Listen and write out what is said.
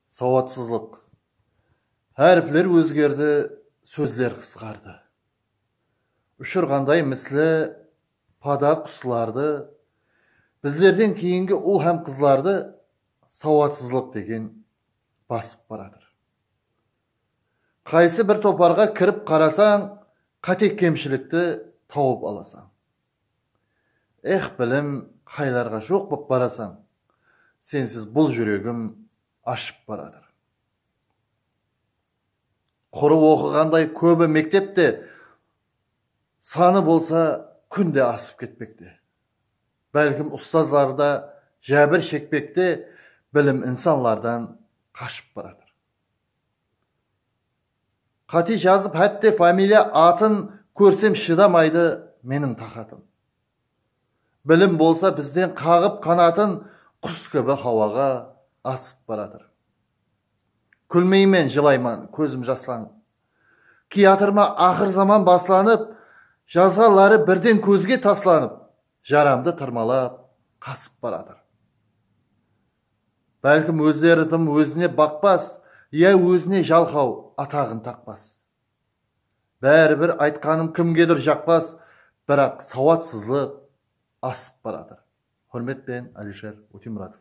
Sawatsızlıq. Háripler ózgerdi, sózler qısqardı. Ushırǵanday misli pada quslardı, bizlerden keyingi ul hám qızlardı sawatsızlıq degen basıp baratır. Qaysı bir toparǵa kirip qarasań, qáte-kemshilikti tawıp alasań. Ex bilim qaylarǵa joq bop barasań sensiz bul juregim ashıp baratır qurı oqıǵanday kóbi mektep te sanı bolsa kúnde asıp ketpekte bálkim ustazları da jábir shekpekte bilim insanlardan qashıp baratır. Qáte jazıp hátte familiya atın kórsem shıdamaydı meniń taqatım. Bilim bolsa bizden qaǵıp qanatın qus kibi hawaǵa asıp baratır. Kúlmeymen jılayman kózim jaslanıp. Kiyatırma aqır zaman baslanıp jazǵan ları birden kózge taslanıp jaramdı tırmalap qasıp baratır. Bálkim ózleri dım ózine baqpas, ya ózine jalqaw ataǵın taqpas. Báribir aytqanım kimgedur jaqpas, biraq sawatsızlıq asıp baratır. Húrmetpen Alisher Utimuratov.